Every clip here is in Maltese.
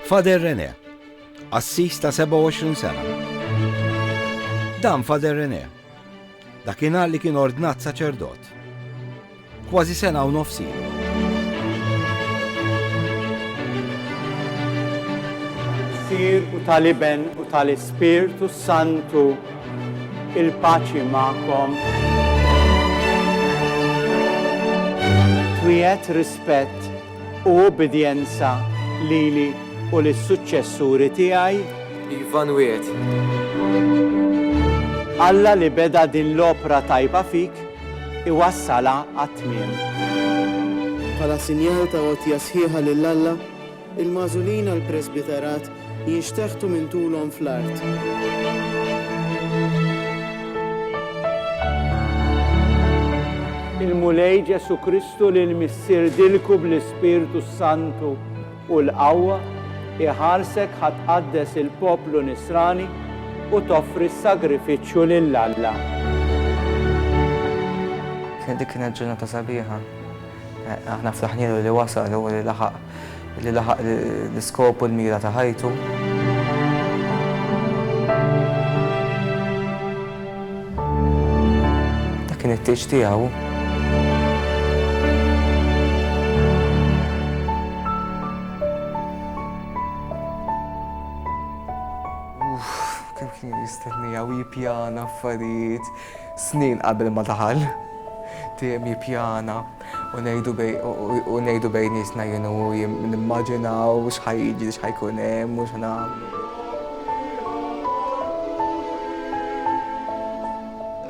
Father René, qassis ta' 27 sena. Dan Father René, dakinhar li kien ordnat saċerdot. Kważi sena u nofsi. Sir u tal-Iben u tal-Ispirtu Santu. Il-paċi magħkom. Twiegħed rispett u ubbidjenza lili u lis-suċċessuri tiegħi? Iva nwiegħed. Alla li beda din l-opra tajba fik iwassalha għat-tmiem. Bħala sinjal ta' għotja sħiħa lil Alla, Il-magħżulin għall-presbiterat jinxteħtu minn tulhom fl-art. Il-Mulej Ġesù Kristu li l-Missier dilku bl-Ispirtu s-Santu u l-qawwa, iħarsek ħa tqaddes il-poplu Nisrani u toffri s-sagrifiċċju lil Alla. Dik kienet ġurnata sabiħa. Aħna flaħnielu li wasal u li laħaq li laħaq l-iskop u l-mira ta' ħajtu. kien it-tieġ tiegħu. Kemm kien jistennija u jippjana affarijiet. Snin qabel ma daħal. Tim jippjana u ngħidu bej u ngħidu bejnietna jien u hu nimmaġinaw x'ħa jiġri x'ħa jkun hemm u x'nagħmlu.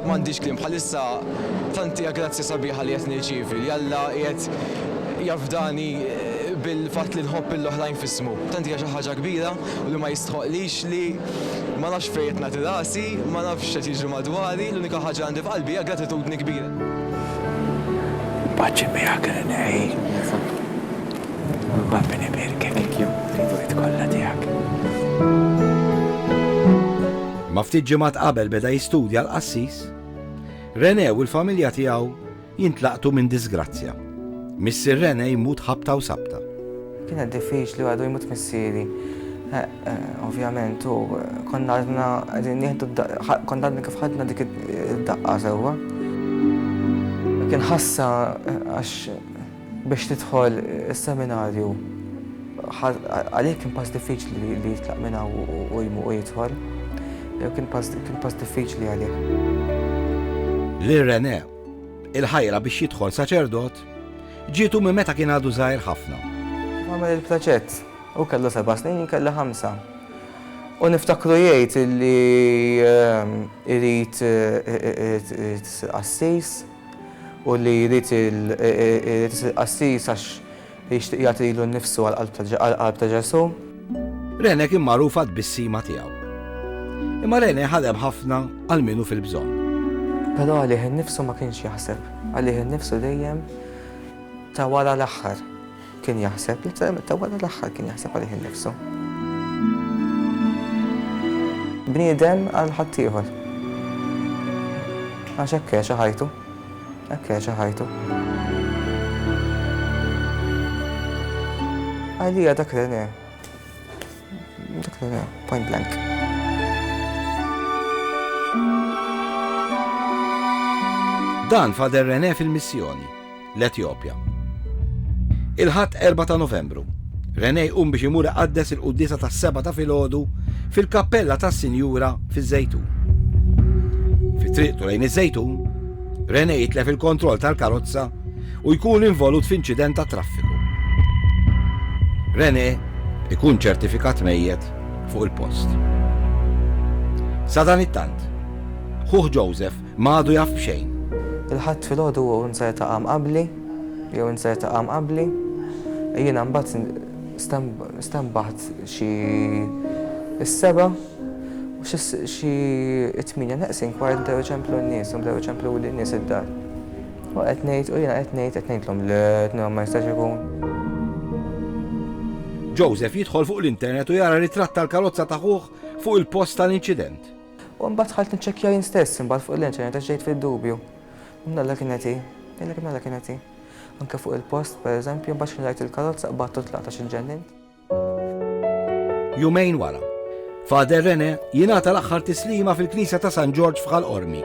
M'għandix kliem bħalissa tant hija grazzja sabiħa li qed nirċievi li Alla qiegħed jafdani bil-fatt li nħobb lill-oħrajn f'ismu. Tant hija xi ħaġa kbira u li ma jistħoqqlix li ma nafx fejn qed nagħti rasi, ma nafx x'qed jiġri madwari, l-unika ħaġa li għandi f'qalbi hija gratitudni kbira. Ma ftit ġimgħat qabel beda jistudja l-qassis, René u l-familja tiegħu Jintlaqtu minn disgrazzja. Missier Rene jmut ħabta u sabta. Kienet diffiċli għadu jmut missieri. Ovvjament u konna għadna qegħdin nieħdu konna għadna kif ħadna dik id-daqqa sewwa. Kien ħassa għax biex tidħol is-seminarju għalih kien pass diffiċli li jitlaq minn hawn u jidħol. Kien pass diffiċli għalih. Lil Rene Il-ħajra biex jidħol saċerdot ġietu minn meta kien għadu żgħir ħafna. Għamel il-plaċett. Hu kellu seba' snin, jien kelli ħamsa. U niftakru jgħid li ehm, irid qassis u li jrid qassis għax Jixtieq jagħti lilu nnifsu għall-qalb ta' Ġesù. Rene kien magħruf għat-tbissima tiegħu. Imma Rene ħadem ħafna għal min hu fil-bżonn. Però għalih innifsu ma kienx jaħseb. Għalih innifsu dejjem ta' wara l-aħħar kien jaħseb. Letteralment ta' wara l-aħħar kien jaħseb għalih innifsu. Bniedem għal ħaddieħor. Għax hekk għexa ħajtu. Hekk jgħixha ħajtu. Għalija dak Rene. Dak Rene, point blank. Dan fader Rene fil-missjoni, l-Etjopja. Il-ħadd 4 ta' Novembru, René jqum biex imur iqaddes il-quddiesa tas-sebgħa ta' filgħodu fil-kappella tas-Sinjura fiż-Żejtun. Fi triqtu lejn iż-Żejtun, René jitlef il-kontroll tal-karozza u jkun involut f'inċident tat-traffiku. René jkun ċertifikat mejjet fuq il-post. Sadanittant, ħuh Joseph ma għadu jaf b'xejn. Il-Ħadd filgħodu hu nser ta' qam qabli Jew inser ta' qam qabli. Jiena mbagħad stenbaħt xi s-sebgħa u xi t-tmienja neqsin kwart bdew iċemplu n-nies u bdew iċempluli n-nies id-dar. U qed ngħid u jiena qed ngħid qed ngħidlhom le qed ngħidlhom ma jistax ikun. Joseph jidħol fuq l-internet u jara ritratt tal-karozza ta' ħuh fuq il-post tal-inċident. U mbagħad dħalt niċċekkja jien stess imbagħad fuq l-internet għax ġejt fid-dubju. Mnalla kienet hi, jgħidlek mnalla kienet hi. Anke fuq il-post, pereżempju, mbagħad xħin rajt il-karozza qbadtu u tlaqt għax inġennint. Jumejn wara, Father Rene jingħata l-aħħar tislima fil-Knisja ta' San Ġorġ f'Ghal Qormi.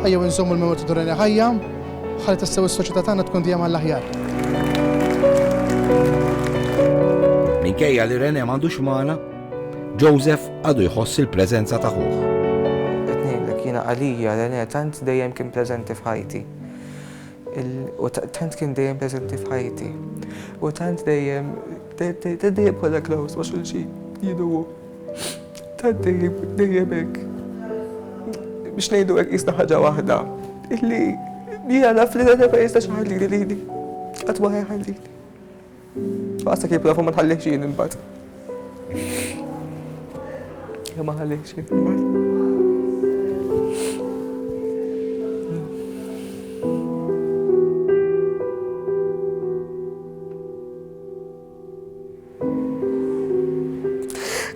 Ejjew inżommu l-memorja ta' Dorania ħajja ħalli tassew is-soċjetà tagħna tkun dejjem għall-aħjar. Minkejja li René m'għandux magħna, Joseph għadu jħoss il-preżenza ta' ħuh. Qed ngħidlek jiena għalija René tant dejjem kien preżenti f'ħajti. U tant kien dejjem preżenti f'ħajti. U tant dejjem dejjem kollha close ma' xulxin jidu Ta' dejjem, dejjem hekk. Biex ngħidu hekk qisna ħaġa waħda illi jiena naf li dan ma jistax iħallili lili. Qatt ma ħajħallili. Għasta kif nafu ma tħallix jien imbagħad. Ja ma ħallix jien imbagħad.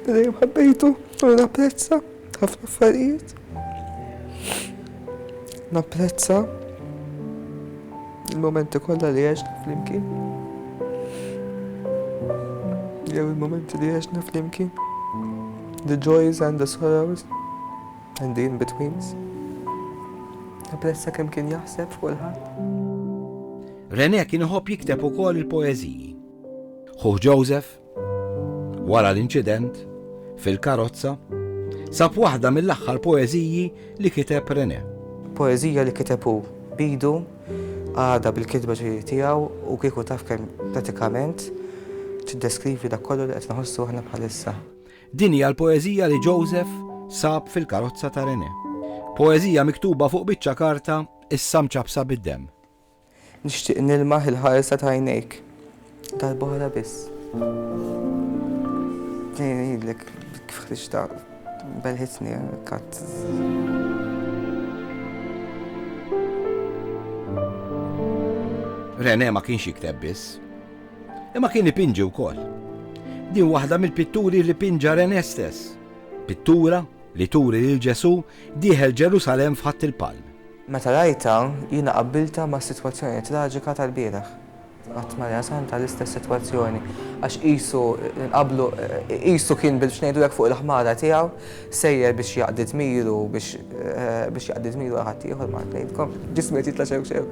Dejjem ħabbejtu u napprezza ħafna affarijiet. Napprezza il-momenti kollha li għexna flimkien. Jew il-momenti li għexna flimkien. The joys and the sorrows and the in-betweens. Napprezza kemm kien jaħseb fuq il-ħadd. René kien iħobb jikteb ukoll il-poeżiji. Ħuh Joseph, wara l-inċident, fil-karozza, sab waħda mill-aħħar poeżiji li kiteb René. Poeżija li kiteb hu b'idu għadha bil-kitba ġejjin tiegħu u kieku taf kemm pratikament tiddeskrivi dak kollu li qed nħossu aħna bħalissa. Din hija l-poeżija li Joseph sab fil-karozza ta' René. Poeżija miktuba fuq biċċa karta issa mċappsa bid-demm. Nixtieq nilmaħ il-ħarsa t'għajnejk. Darb'oħra biss. Tnejn ngħidlek kif ħriġtha belħitni kat. Rene ma kienx jikteb biss. Imma kien ipinġi wkoll. Din waħda mill-pitturi li pinġa Rene stess. Pittura li turi lil Ġesu dieħel Ġerusalem f'ħadd il-palm. Meta rajtha, jiena qabbiltha mas-sitwazzjoni traġika tal-bieraħ. Qatt ma rajna saħansitra l-istess sitwazzjoni, għax qisu nqabblu, qisu kien biex ngħidulek fuq il-ħmara tiegħu, sejjer biex jaqdi dmiru, biex jaqdi dmiru għal ħaddieħor, ma ngħidkom, ġismu qed jitla' xewk xewk.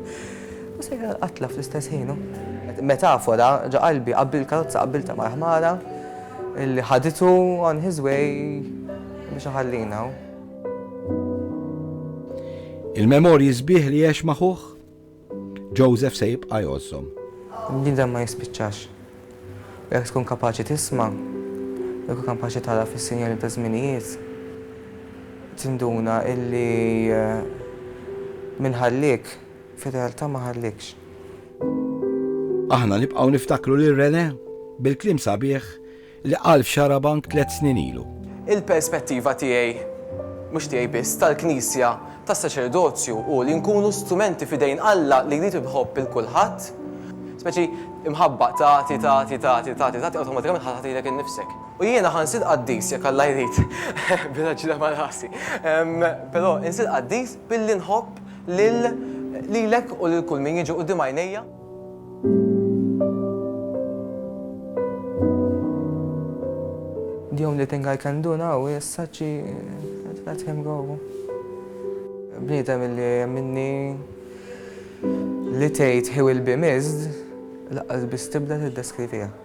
U sejjer għall-qatla fl-istess ħin hu. Metafora ġo qalbi, qabbilt il-karozza qabbiltha mal-ħmara li ħaditu on his way biex iħallina. Il-memorji sbieħ li għex ma' ħuh, Joseph se jibqa' jgħożżhom. L-nidem ma jispiċċax. Jekk tkun kapaċi tisma', jekk tkun kapaċi tara fis-sinjali taż-żminijiet, tinduna illi min ħalliek, fir-realtà ma ħalliekx. Aħna nibqgħu niftakru lil Renè bil-kliem sabiħ li qal f'Xarabank tliet snin ilu. Il-perspettiva tiegħi, mhux tiegħi biss, tal-Knisja, tas-saċerdozju hu li nkunu strumenti f'idejn Alla li jrid inħobb 'il kulħadd. Speċi imħabba, tagħti, tagħti, tagħti, tagħti, tagħti awtomatikament ħa tagħti lilek innifsek. U jiena ħa nsir qaddis jekk Alla jrid, biraġla ma' rasi, però insir qaddis billi nħobb lilek u lil kull min jiġi quddiem għajnejja. The only thing I can do now is such let him go. Bniedem illi minni li tgħid he will be missed laqqas biss tibda tiddeskrivih.